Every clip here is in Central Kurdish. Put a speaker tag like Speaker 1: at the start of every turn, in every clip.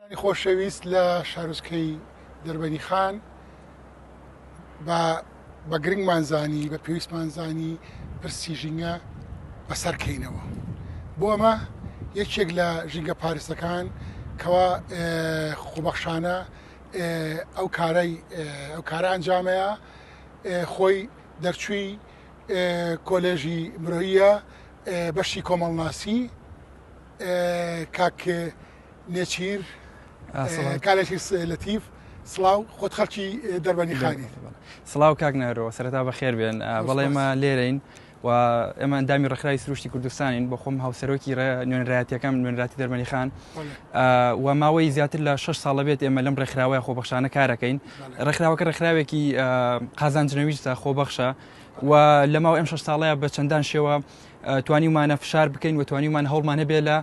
Speaker 1: انی خۆشەویست لە شارۆچکەی دەربەنی خان بە بە گرنگمان زانی بە پێویستمان زانی پرسی ژینگە بەسەر کەینەوە بۆ ئەمە یەکێک لە ژینگە پارستەکان کەوا خۆبەخشانە ئەو کارای ئەو کارە ئەنجامەیە خۆی دەرچووی کۆلێژی مرۆیە بەشی کۆمەڵناسی کاک نێچیر کا لەچیر لەتیف سڵاو خۆت خەڵکی دەربەنی خانیت سڵاو کاک
Speaker 2: نەرۆ سەرتا بە خێر بێن بەڵێ ئێمە لێرەین و ئێمە ئەندامی ڕخراوی سروشتی کوردستانین بۆ خۆم هاوسەرۆکی نوێنرایەتەکەم نوێنراتی دەرمەنی خان و ماوەی زیاتر لە 6 ساڵە بێت ئێمە لەم ڕێکخراوەیە خۆبەخشانە کارەکەین ڕێکخراوەکە ڕێکخراوێکی قازانجنەویستە خۆبەخشە و لەماو ئەم 6 ساڵەیە بە چەندان شێوە توانیومانە فشار بکەین و توانیومان هەوڵمان هەبێ لە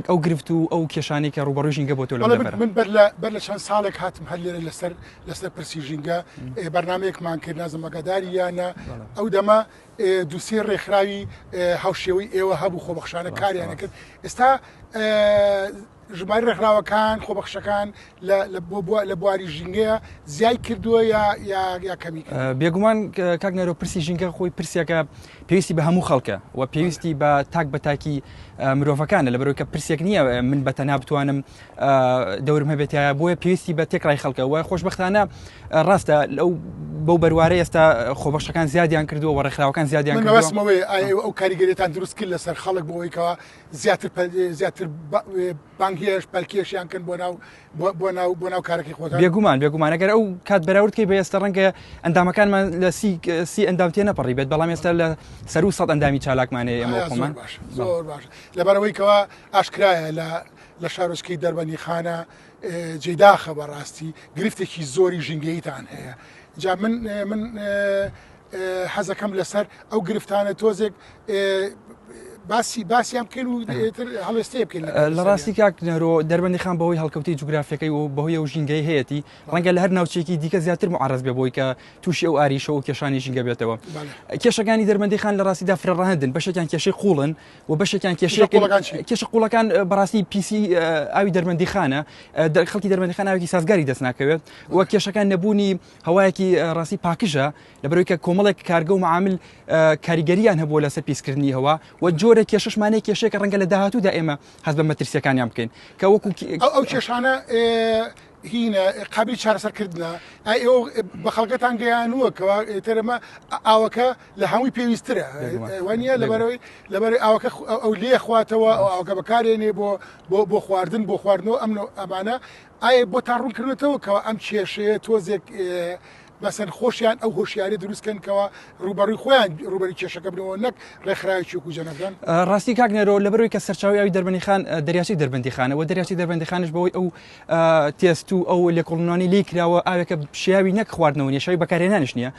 Speaker 2: ئەو گرفت و ئەو کێشانەی کە ڕووبەڕووی ژینگە بۆتەوە لەو بەڵێ بەرە من بەر لە بەر
Speaker 1: لە چەند ساڵێک هاتم هەر لێرە لەسەر لەسەر پرسی ژینگە ئێ، بەرنمەیەکمان کرد نازم ئەگاداری یانە بەڵێ. ئەو دەمە ئێ، دووسێ ڕێکخراوی ئێ، هاوشێوەی ئێوە هەبوو خۆبەخشانە راست کاریانە راست. کرد ئێستا ئێ، ژمارەی ڕێکخراوەکان خۆبەخشەکان لە بواری ژینگەیە زیای کردووە یا کەمی بێگومان
Speaker 2: کاک نەرۆ پرسی ژینگە خۆی پرسیەکە پێویستی بە هەموو خەڵکە و پێویستی بە تاک بە تاکی مرۆڤەکانە لە بەرۆکە پرسێک نییە من بە تەنا بتوانم دەورم هەبێتایە بۆیە پێویستی بە تێکڕای خەڵکە وای خۆشببختانە ڕاستە لەو بەو بەروارە ئێستا خۆبەخشەکان زیادیان کردووە و ڕێکخراوەکان زیادیان بەسمەوەی
Speaker 1: ئەو کاریگەرێتان دروست کرد لەسەر خەڵک بۆەوەیکەوە زیاتر زیاتر بانگهێشت پەلکێشیان کەن بۆ ناو بۆ ناو بۆ ناو کارەکەی خۆتان بێگومان بێگومان ئەگەر ئەو
Speaker 2: کات بەراورد کەی بە ئێستا ڕەنگە ئەندامەکانمان لە سی سی ئەندام تێ نەپەڕی بێت بەڵام ئێستا لە سەر و سەد ئەندامی چالاکمانەیە ئەمە خۆمان باش زۆر باش
Speaker 1: لەبەرەوەی کەوا ئاشکرایە لە لە شارۆچکەی دەربەنی خانە جێداخە بەڕاستی گرفتێکی زۆری ژینگەیتان هەیە جا من من حەزەکەم لەسەر ئەو گرفتانە تۆزێک باسی باسییان بکەن و هەڵێستێ بکەن لە ڕاستی کاک
Speaker 2: نەرۆ دەربندی خان بەوەی هەڵکەوتی جوگرافەکەی و بەهۆی و ژینگەی هەیەی ڕەنگە لە هەر ناوچێکی دیکە زیاتر معڕز بێ بۆی کە تووشی ئەو ئاریشە و کێشانی ژینگە بێتەوە کێشەکانی دەربندی خان لە ڕاستیدا فرەڕەهندن بەشێکیان کێشەی قوڵن و بەشێکیان کێشەکان کێشە قوڵەکان بەڕاستی پیسی ئاوی دەربندی خانە خەڵکی دەربندی خانناوێکی سازگاری دەست ناکەوێت و کێشەکان نەبوونی هەوایەکی ڕاستی پاکژە لەبەرەوەی کە کۆمەڵێک کارگە و معامل کاریگەریان هەبووە لەسەر پیسکردنی هەوا و جۆرە کێشەشمانەیە کێشێکە ڕەنگە لە داهاتوودا ئێمە هەز بە مەترسیەکانیان بکەین کە وەکو ئەو کێشانە
Speaker 1: هینە قابلی چارەسەرکردە ئەو بە خەڵگەتان گەیانووە کەوا تەرەمە ئاوەکە لە هەمووی پێویسترە وانە لەبەرەوەی لەبەر ئاوەکە ئەو لێخواتەوە ئەو ئاوکە بەکارێنێ بۆ بۆ بۆ خواردن بۆ خواردنەوە ئەمن ئەمانە ئایا بۆتان ڕوون کردۆتەوە کەوا ئەم کێشەیە تۆزێک بەسەن خۆشیان ئەو هۆشیاری دروست کەن کەوا ڕوبەڕوی خۆیان ڕوبەری کێشەکە بنەوە نەک ڕێکخراوی چوک و جەنەبدەن ڕاستی کاک نەرۆ
Speaker 2: لەبەروی کە سەرچاوی ئەوی دەربەنی خان دەریاچی دەربەندی خانە و دەریاچی دەربەندی خانش بەوەی ئەو تێست و ئەو لێکۆڵنانی لی کراوە ئاوێکە شیاوی نەک خواردنەوە نیە شوی بەکارێنانش نیە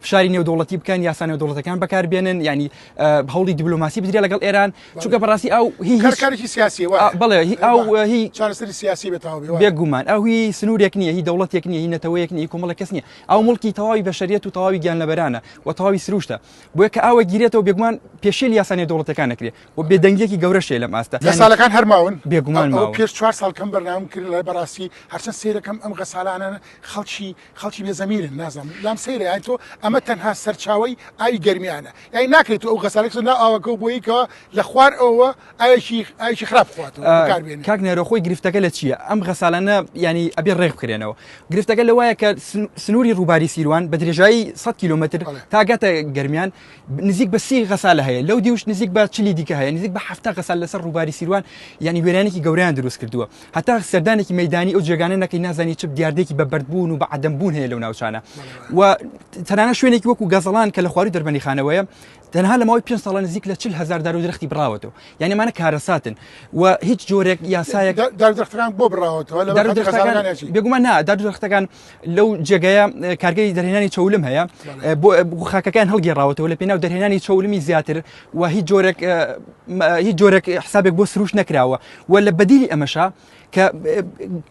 Speaker 2: فشاری نێودوڵەتی بکەن یاسا نێودوڵەتەکان بەکاربێنن ینی هەوڵی دیبلوماسی بدرێ لەگەڵ ئێران چونکە بەڕاستی ئەو هیچکارێکی سیاسی
Speaker 1: بڵێ هی
Speaker 2: چارەسەری سیاسی
Speaker 1: بێگومان ئەو هی
Speaker 2: سنوورێک نییە هی دەوڵەتێک نییە هی نەتەوەیەک نیە کومەڵە کەس نیە ئەو مڵکی تەواوی بەشریەت و تەواوی گیان لەبەرانە و تەواوی سروشتە بۆیە کە ئەوە گیرێتەوە بێگومان پێشێل یاسانی دەوڵەتەکان نەکرێ و بێدەنگیەکی گەورەشێ لەم ئاستە لە ساڵەکان هەرماون
Speaker 1: بێگومان پێش
Speaker 2: چوار ساڵ کەم
Speaker 1: بەرنام کرد لە بەڕاستی هەرچەند سیرەکەم ئەم غەسالانە خەڵکی خەڵکی بێ زەمینن نازانن لام سەیرە یانی تۆ ئەمە تەنها سەرچاوەی ئاوی گەرمیانە یانی ناکرێت تۆ ئەو غەسالەی بخەیتە ناو ئاوەکە و بۆیی کەوە لە خوار ئەوەوە ئاوێکی ئاوێکی خراپ بخواتەوە آه، بەکار بێنێت کاک نێرۆ خۆی گرفتەکە
Speaker 2: لە چییە ئەم غەسالانە یانی ئەبێ ڕێک بکرێنەوە گرفتەکە لەوایە کە سن- سنووری ڕووباری سیروان بە درێژایی 100 کیلومتر بەڵێ. تاگاتە گەرمیان نزیک بە سی غەسالە هەیە لەو دیوش نزیک بە چلی دیکە هەیە نزیک بە هەفتا غەسال لەسەر ڕووباری سیروان یعنی وێرانێکی گەوریان دروست کردووە هەتا سەردانێکی مەدانی ئەو جێگانە نەکەی نازانی چ دیاردێکی بە بەردبوون و بە عدەمبوون هەیە لەو ناوچانە و تەنانە شوێنێکی وەکو گەزەڵان کە لە خواری دەربەنی خانەوەیە تەنها لە ماوەی پێ ساڵە نزیک لە چل هزار دار و درختی بڕاوەتەوە یعنی مانە کارەساتن و هیچ جۆرێک یاسایەک دەرخەکان بۆ
Speaker 1: بڕاوەتەوە بێگومان
Speaker 2: نا دەرخەکان لەو جێگەیە کارگەی دەرهێنانی چەولم هەیە بۆ خاکەکان هەڵگێڕاوەتەوە لە پێناو دەرهێنانی چەولمی زیاتر و هیچ جۆرێک هیچ جۆرێک حسابێک بۆ سروش نەکراوە و لە بەدیلی ئەمەشە کە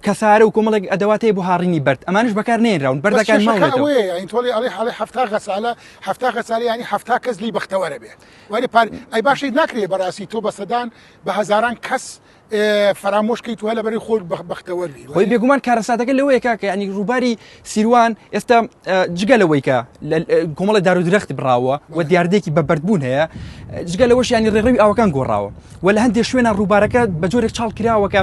Speaker 2: کەسارە و کۆمەڵێک ئەدەواتەیە بۆ هاڕینی بەرد ئەمانش بەکار نێنراون بەردەکان تۆڵی ئەڵی حڵی
Speaker 1: هەفتا غەسالە هەفتا غەسالی ینی هەفتا کەس لی بەختەوەرە بێ وەری پار ئەی باشی ناکرێ بەڕاستی تۆ بەسەدان بە هزاران کەس فەرامۆش کەیتوە لە بەری خۆت بەختەوەری خۆی بێگومان کارەساتەکە
Speaker 2: لەوەیە کاکە ینی ڕووباری سیروان ئێستا جگە لەوەیکە کۆمەڵی دار و درەختی بڕاوە و دیاردێکی بە بەردبوون هەیە جگە لەوەش ینی ڕێڕەوی ئاوەکان گۆڕاوە و لە هەندێک شوێنە ڕووبارەکە بە جۆرێک چاڵ کراوەکە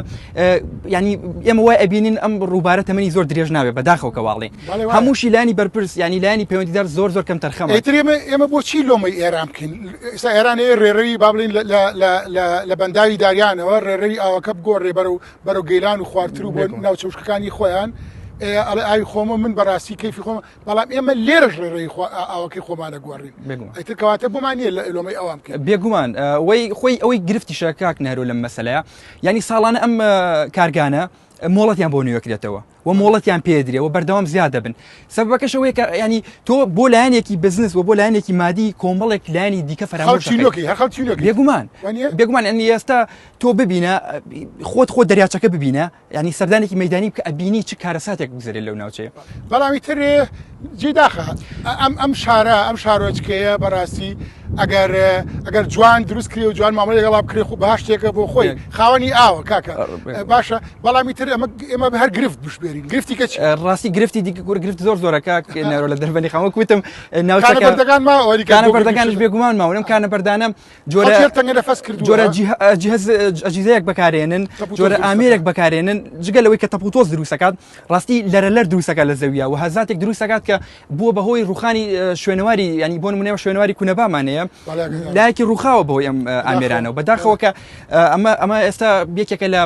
Speaker 2: ینی ئێمە وای ئەبینین ئەم ڕووبارە تەمەنی زۆر درێژ ناوێت بەداخەوە کەواڵێ هەمووشی لانی بەرپرس ینی لانی پەیوەندیدار زۆر زۆر کەم تەرخەم ئەترێمە ئێمە بۆچی
Speaker 1: لۆمەی ئێران بکەین ئستا ئێرانێ ڕێڕەوی بابلین لە بەنداوی داریانەوە ڕێڕەوی ئاوەکە بگۆ ڕێبەرە و بەرەو گەیلان و خوارتر و بۆ ناوچەوشکەکانی خۆیان ئەڵێ ئاوی خۆمە من بەڕاستی کەفی خۆم بەڵام ئێمە لێرەش ڕێڕێی ئاوەکەی خۆمانە گۆڕین ئەتر کەواتە بۆمان نیە لە ئەلۆمەی ئەوان بکە بێگومان وی
Speaker 2: خۆی ئەوەی گرفتی شەکاک نەرو لەم مەسلەیە ینی ساڵانە ئەم کارگانە مۆڵەتیان بۆ نوێکرێتەوە و مۆڵەتیان پێدرێ و بەردەوام زیاد دەبن سەبەکەش ئەوەیە کە ینی تۆ بۆ لایەنێکی بزنس و بۆ لایەنێکی مادی کۆمەڵێک لایانی دیکە فراگومان بێگومان ئەنی ئێستا تۆ ببینە خۆت خۆ دەریاچەکە ببینە ینی سەردانێکی مەدانی کە ئەبینی چ کارەساتێک بگوزرێت لەو ناوچەیە بەڵامی تر
Speaker 1: جێ داخە ئەم ئەم شارە ئەم شارۆچکەیە بەڕاستی ئەگەر ئەگەر جوان دروست کرێ و جوان مامەڵی گەڵا کرێ خو بە شتێکە بۆ خۆی خاوەنی ئاوە کاکە باشە بەڵامی تر ئەمە ئێمە هەر گرفت بشبێرین گرفتی کە ڕاستی گرفتی دیکە
Speaker 2: گور گرفت زۆر زۆرەکە نەرۆ لە دەربەنی خەوە کوتم ناوچەکان
Speaker 1: ماوەریکانەکانش
Speaker 2: بێگومان ماونم کانە بەردانم جۆرە ئەجیزەیەک بەکارێنن جۆرە ئامێرێک بەکارێنن جگە لەوەی کە تەپوتۆز دروستەکات ڕاستی لەرە لەر دروستەکە لە زەویە و هەزاتێک دروستەکات کە بووە بەهۆی ڕوخانی شوێنەواری ینی بۆن منێوە شوێنواری کونەبامانەیە لایەکی ڕوخاوە بۆ ئەم ئامێرانەوە بەداخەوە کە ئەمە ئەمە ئێستا بێکێکە لە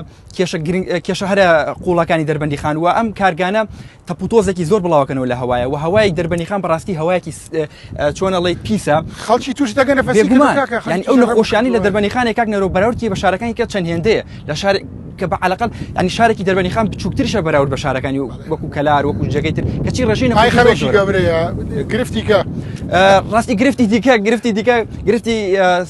Speaker 2: کێشە هەرە قوڵەکانی دەربەندی خانووە ئەم کارگانە تەپوتۆزێکی زۆر بڵاوەکەنەوە لە هەوایە و هەوایەک دەربەنیخان بەڕاستی هەوایەکی چۆنە ڵیت پیسە خەڵکی توش
Speaker 1: دەگەنە ئەو
Speaker 2: نەخۆشیانی لە دەربەنیخانێک کاک نەرۆ بەراورتی بە شارەکانی کە چەند هێندەیە لە شار کە بە علاقل ئەنی شارێکی دەربەنیخان بچووکترشە بەراورد بە شارەکانی و وەکو کەلار وەکو جێگەی تر کەچی ڕژین گرفتی کە
Speaker 1: ڕاستی
Speaker 2: گرفتی دیکە گرفتی دیکە گرفتی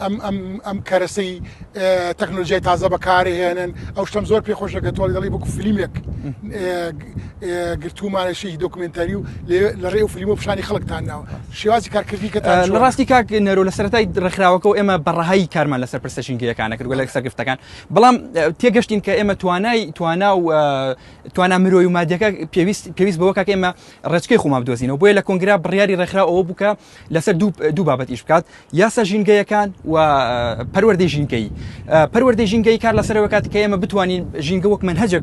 Speaker 1: ئەم کەرەسەی تەکنۆلژیای تازە بەکارهێنن ئەو شتم زۆر پێ خۆشە کە تۆڵی دەڵی بکو فلیمێک گرتومانەشی دۆکمنتەری و لە ڕێ و فلیم و پیشانی خەڵکتان ناوە شێوازی کارکردی کە ڕاستی کاک نەرۆ
Speaker 2: لە سەرای ڕێکخراوەکە و ئێمە بەڕەهایی کارمان لەسەر پرسە ژینگەیەکانە کرد لە سەرگفتەکان بەڵام تێگەشتین کە ئێمە توانای توانا و توانا مرۆی و مادەکە پێویست پێویست بەوە کاک ئێمە ڕێچکەی خۆمان بدۆزینەوە بۆیە لە کۆنگرا بڕیاری ڕێکخراوەوە بووکە لەسەر دوو بابەت ئیش بکات یاسا ژینگەیەکان و پەروەردەی ژینگەی پەروەردەی ژینگەی کار لەسەرەوە کات کە ئێمە بتوانین ژینگە وەک من هەجێک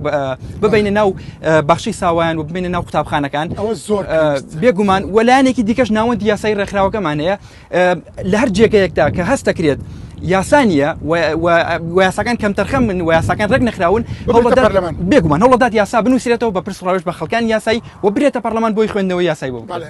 Speaker 2: ببینە ناو بەخشی ساوایان و ببینە ناو قوتابخانەکان ئەوە زۆر بێگومان وەلایەنێکی دیکەش ناوەندی یاسای ڕێکخراوەکەمان هەیە لە هەر جێگەیەکدا کە هەست دەکرێت یاسانیە ویاساکان کەم تەرخەم من ویاساکان ڕێک نەخراون بێگومان هەوڵدات یاسا بنووسێتەوە بە پرسڕاوش بە خەکان یاسایی و برێتە پەرلەمان بۆی خوێندنەوە یاسای بۆ